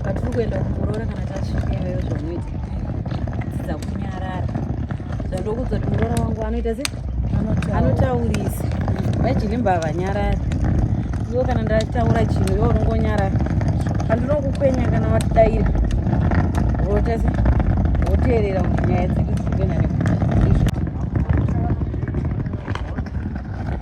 patiri kuenda kumuroora kana tasvikeyo zvonoita dzidza kunyarara zvandokuudza kuti muroora wangu anoita se anotaurisa vajini mbavha nyarara iwo kana ndataura chinhu iwo unongonyarara handinokukwenya kana vatidaira voita se voteerera kuti nyaya dzedu dzikuenda nekuti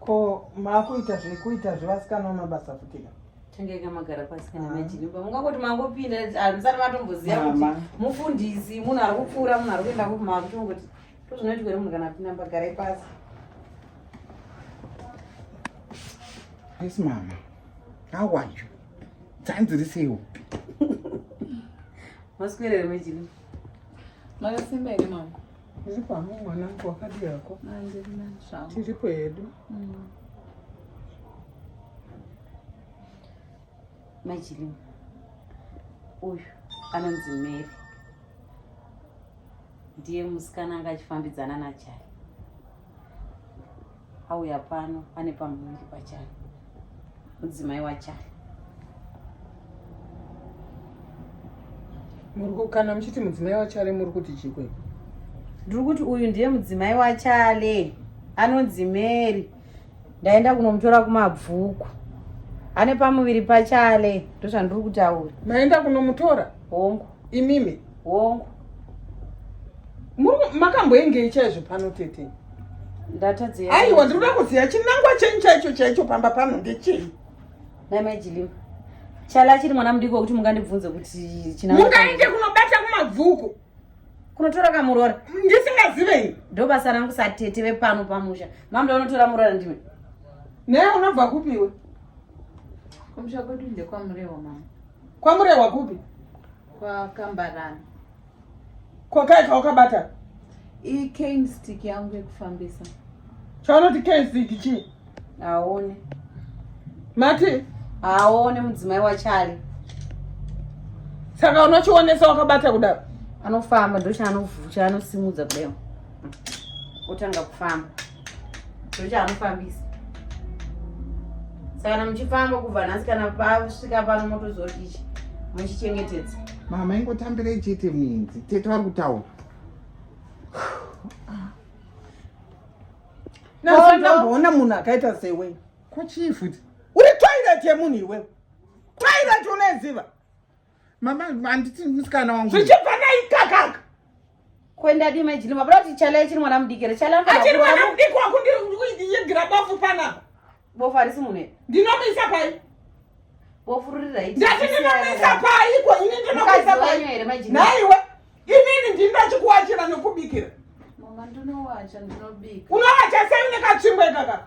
ko makuita zvekuita zvevasikana vamabasa futika tangeka magara pasi kana majirimba mungangoti mangopinda hamusati matomboziva kuti mufundisi munhu ari kupfuura munhu ari kuenda kupi makuchongoti tozvinoitwa ere munhu kana apinda mbagarai pasi Yes, Mama. How are you? tanzi riseiwo maswerere mejini makasimba here mama ndiripo hama mwanangu wakadi yako tiripo hedu mm. majilimu uyu anonzi mary ndiye musikana anga achifambidzana najayi auya pano ane pamuviri pachari mudzimai wachari kana muchiti mudzimai wachale muri kuti chikwe ndiri kuti uyu ndiye mudzimai wachale anonzi mary ndaenda kunomutora kumabvuku ane pamuviri pachale ndozvandiri kutaura maenda kunomutora hongu imimi hongu makamboengei chaizvo pano tete ndatadzia aiwa ndiri kuda kuziva chinangwa chenyu chaicho chaicho pamba pano ndechei namajilima chala achiri mwana mudiki wekuti mungandibvunze kuti chinmungaende kunobata kumabvuku kunotora kamurora ndisingazivei ndo basa rangu satete vepano pamusha mamda unotora murora ndime naye unobva kupiwe kumusha kwedu ndekwamurewa mama kwamurehwa kupi kwakambarana kwakai kawakabata icane stick yangu yekufambisa chaunoti cane stick chii haone mati haone mudzimai wachale saka unochionesa wakabata kudaro anofamba ndochaanosimudza kudai otanga kufamba ndochaanofambisa saka kana muchifamba kubva nhasi kana pasvika pano motozodii muchichengetedza mama ingotambirei chete minzi tete vari kutaura nasotamboona munhu akaita sewe kochii futi uri toilet yemunhu iwewe toilet unoiziva mama handiti musikana wangu zvichibva naikakaka kwenda dima jini mabura kuti chala ichiri mwana mudiki here chala achiri mwana mudiki wako ndiyegera bofu panapa bofu harisi mune ndinomuisa pai bofu riri raiti ndati ndinomuisa pai ko ini ndinomuisa pai here majini naiwe inini ndini ndachikuwachira nokubikira mama ndinowacha ndinobika unowacha sei unekatsvimbo ikakaka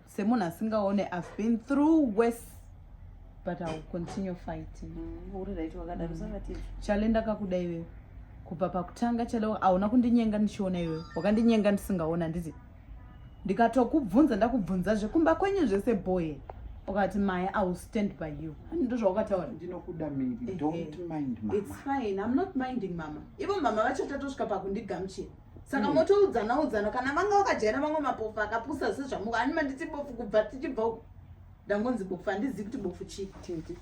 semunhu asingaone i've been through worse but iwill continue fighting mm, uri right wakadaro savatii chale ndakakuda iwewe kubva pakutanga chale hauna kundinyenga ndichiona iwewe wakandinyenga ndisingaona ndizi ndikatokubvunza ndakubvunza zvekumba kwenyu zvese boye ukati maye i will stand by you ndozvaukataura ndinokuda miri don't mind mama it's fine i'm not minding mama ivo mama vachatatosvika pakundigamchira saka hmm. motoudzana udzana kana vanga vakajaira vamwe mapofu akapusa sezvamuka ani manditi bofu kubva tichibva uku ndangonzi bofu handizivi kuti bofu chii tete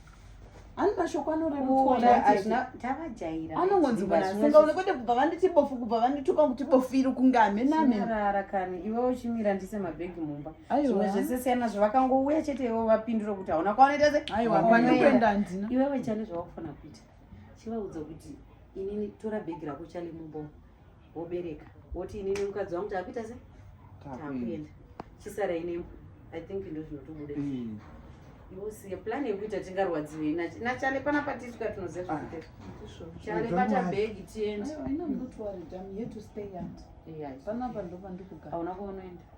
ani mashoko anorerutsaanongonzi mwanaasingaone kwete kubva vanditi bofu kubva vandituka kuti bofu iri kunge hamenamenarara kani iwe uchimira ndise mabhegi mumba zvimwe zvese siyana zvavakangouya chete iwe vapindura kuti hauna kwavanoita se iwewe chane zvavakufana kuita chivaudza kuti inini tora bhegi rako chale mumba wobereka woti ini nemukadzi wangu takuita se takuenda chisara inemu i think ndo zvinotobude mm. iwosiye plan yekuita tingarwadziwei nachale panapa tisvika tinoziva zvakuteta ah, chale bata bhegi tiende hauna kwaunoenda